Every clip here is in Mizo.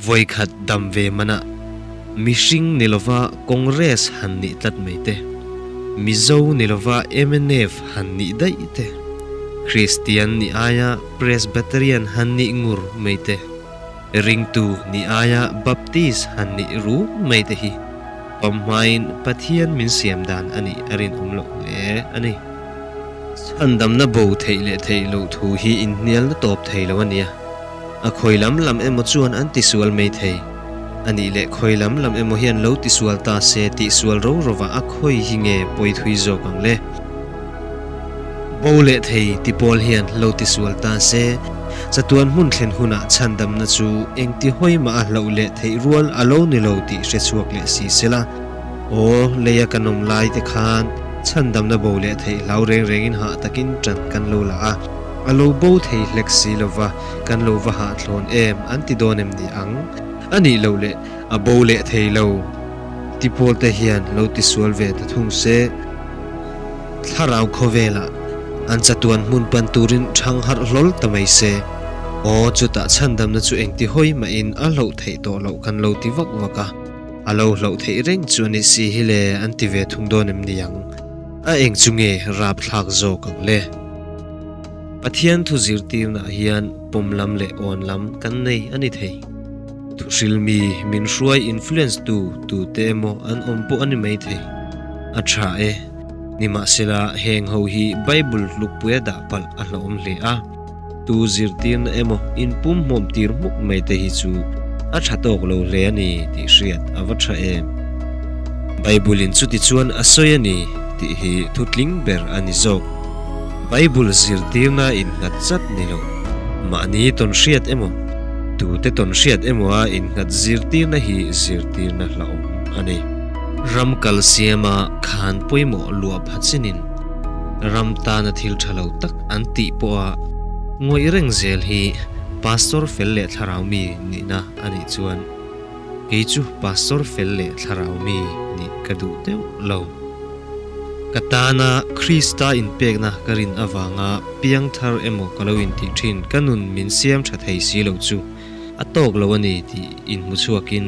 Vawikhat dam ve mana mihring ni lova Congress han nih tlat mai te, Mizo ni lova MNF han nih daih te, Kristian ni aia Presbyterian han nih ngur mai te, Ringtu ni aia Baptist han nih ruk mai te hi pam hmain Pathian min siam dan a nih a rinawm loh hle a ni. Chhandamna bo theih leh theih loh thu hi inhnialna tawp thei lo a nia. A khawi lam lam emaw chuan an ti sual mai thei. A nih leh khawi lam lam emaw hian lo ti sual ta se tih sual ro rova a khawi hi nge pawi thui zawk ang le? Bo leh thei ti pawl hian lo ti sual ta se chatuan hmun thlen hunah chhandamna chu engti hawi mah a hloh leh theih rual a lo ni lo tih hre chhuak leh si se la. Aw, lei a kan awm lai te khan chhandamna bo leh theih hlau reng rengin hah takin ṭan kan lo la a. A lo bo thei hlek si lo va, kan lo va hahthlawn em an ti dawn em ni ang? A nih loh leh, a bo leh thei lo ti pawl te hian lo ti sual ve ta thung se. Thlarau khawvelah an chatuan hmun pan turin ṭhang harh hlawl ta mai se. Aw, chutah chhandamna chu engti hawi mahin a hlauh theih tawh loh kan lo ti vak vak a, a lo hlauh theih reng chu a ni si hi le an ti ve thung dawn em ni ang? A eng chu nge rap thlak zawk ang le? Pathian thu zirtirnah hian pawm lam leh awn lam kan nei a ni thei. Thuhril mi min hruai influence tu tute emaw an awm pawh a ni mai thei. A tha e. Nimahsela, heng ho hi Bible tlukpuia dah palh a hlawm hle a. Tu zirtirna emaw in pum hmawm tir hmuk mai te hi chu a tha tawk lo hle a ni tih hriat a va tha em? Bible-in chuti chuan a sawi a ni tih hi thutling ber a ni zawk. Bible zirtirna innghat zat ni lo. Mahni tawn hriat emaw, tute tawn hriat emawa innghat zirtirna hi zirtirna hlauhawm a ni. Ram kal siama khan pawimawh luah phachin in ram tana thil tha lo tak an tih pawh a ngawih reng zel hi Pastor fel leh thlarau mi nihna a nih chuan kei chu Pastor fel leh thlarau mi nih ka duh deuh lo. Ka tana Krista inpekna ka rin avanga piangthar emaw ka lo intih thin ka nun min siam tha thei si lo chu a tawk lo a ni tih inhmuchhuakin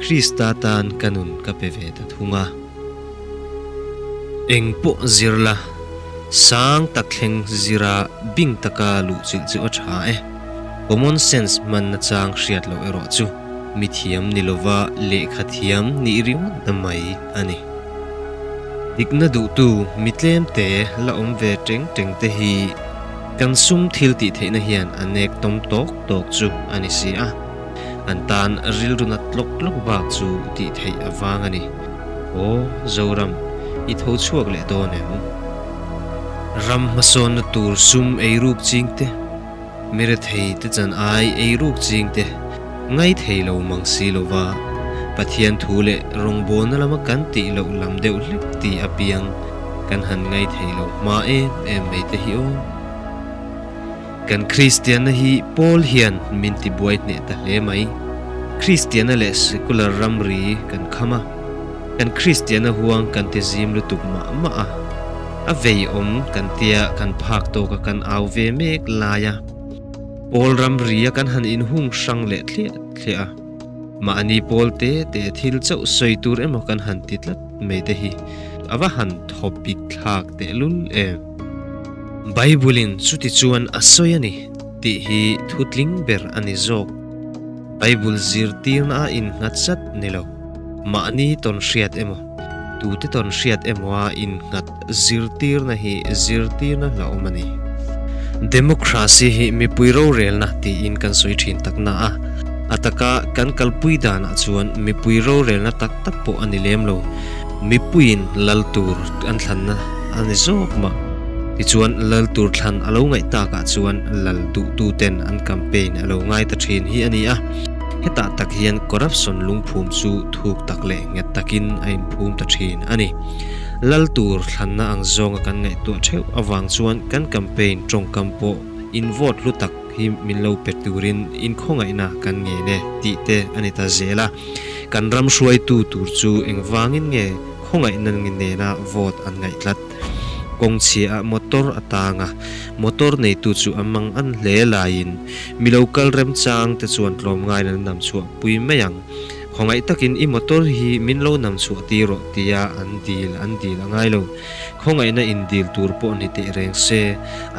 Krista tan ka nun ka pe ve ta thung a. Eng pawh zir la, sang tak thleng zira bing taka luh chilh chilh a tha e. Common sense hmanna chang hriat loh erawh chu, mithiam ni lova lehkha thiam nih ringawt na mai a ni. Dikna duhtu mi tlemte la awm ve ṭeng ṭengte hi kan sum thil tihtheihna hian a nek tawm tawk tawk chu a ni si a. An tan rilru nat lawk lawk bak chu tih theih avang a ni. Aw, Zoram, i tho chhuak leh dawn em? Ram hmasawnna tur sum ei ruk ching te, mire thei te chan ai ei ruk ching te ngai thei lo mang si lova, Pathian thu leh rawngbawlna lama kan tih loh lam deuh hlek ti apiang kan han ngai thei lo hma em em mai te hi aw. Kan Kristianna hi Paul hian min tibuai hneh ta hle mai. Kristianna leh secular ramri kan kham a, kan Kristianna huang kan ti zim lutuk mah mah a. A veiawm kan tia kan phak tawka kan au ve mek lai a. Paul ramria kan han inhung hrang leh thliah thliah a. Mahni Paul te te thil chauh sawi tur emaw kan han ti tlat mai te hi a va han thawpik thlak tehlul em! Bible-in chuti chuan a sawi a ni tih hi thutling ber a ni zawk. Bible zirtirnaah innghatzat ni lo, mahni tawn hriat emaw, tute tawn hriat emawa innghat zirtirna hi zirtirna hlauhawm a ni. Democracy hi mipui rorelna tiin kan sawi thin tak na a, a taka kan kalpui danah chuan mipui rorelna tak tak pawh a ni lem lo. Mipuiin lal tur an thlan na a ni zawk mah. Tichuan, lal tur thlan a lo ngaih tak ah chuan lal duhtu ten an campaign a lo ngai ta thin hi a ni a. Hetah tak hian corruption lungphum chu thuk tak leh nghet tak in a in phum ta thin a ni. Lal tur thlan na ang zawnga kan ngaihtuah theuh avang chuan kan campaign tawngkam pawh in vote hlu tak, hi min lo pe turin inkhawngaihna kan ngei le tih te a ni ta zel a, kan ram hruaitu tur chu engvangin nge khawngaihna nge nena vote an ngaihtlat? Kawng chhiaha motor a tang a, motor neitu chu an mang an hle laiin mi lo kal remchang te chuan tlawm ngaiin an nam chhuah pui mai ang. Khawngaih takin i motor hi min lo nam chhuah ti rawh tia an dil an dil a ngai lo. Khawngaihna indil tur pawh ni teh reng se,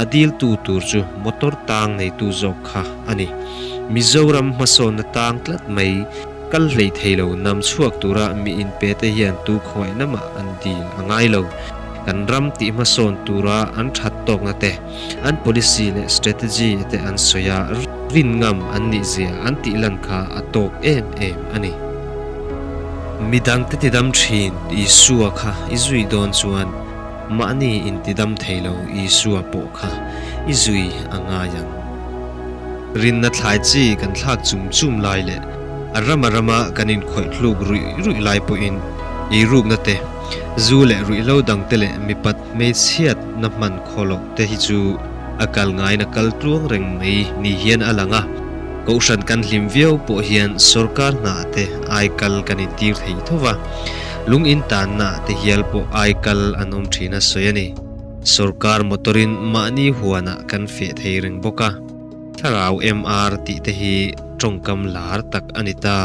a diltu tur chu motor tang neitu zawk kha a ni. Mizoram hmasawnna tang tlat mai kal hleih thei lo nam chhuak tura mi inpete hian tu khawngaihna mah an dil a ngai lo. Kan ram tih hmasawn tura an that tawkna te. an policy leh strategy te an sawi a, rin ngam an nih zia an tih lan kha a tawk em em a ni. Mi dangte tidam thin Isua kha i zui dawn chuan mahni in tidam thei lo Isua pawh kha i zui a ngai ang. Rinna thlai chi kan thlak chum chum lai leh a ram a rama kan inkhawih hluk ruih ruih lai pawhin ei rukna te, zu leh ruihlo dangte leh mipa Hmeichhiat na hman khaw loh te hi chu a kal ngai na kal tluang reng mai ni hian a lang a, Kohhran kan hlim viau pawh hian sorkar hnah te ai kal kan in tir thei tho va, lung in tan na te hial pawh ai kal an awm thin a sawi a ni. Sorkar motor in mahni huan ah kan feh thei reng bawk a. Thlarau MR tih te hi tawngkam lar tak a ni ta.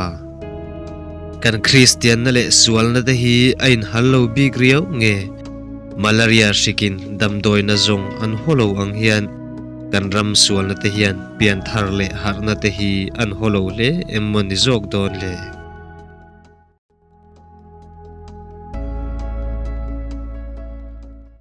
Kan Kristianna leh sualna te hi a inhal lo bik riau nge? Malaria hrikin damdawina zawng an haw lo ang hian kan ram sualna te hian pian thar leh harhna te hi an haw lo hle em maw ni zawk dawn le?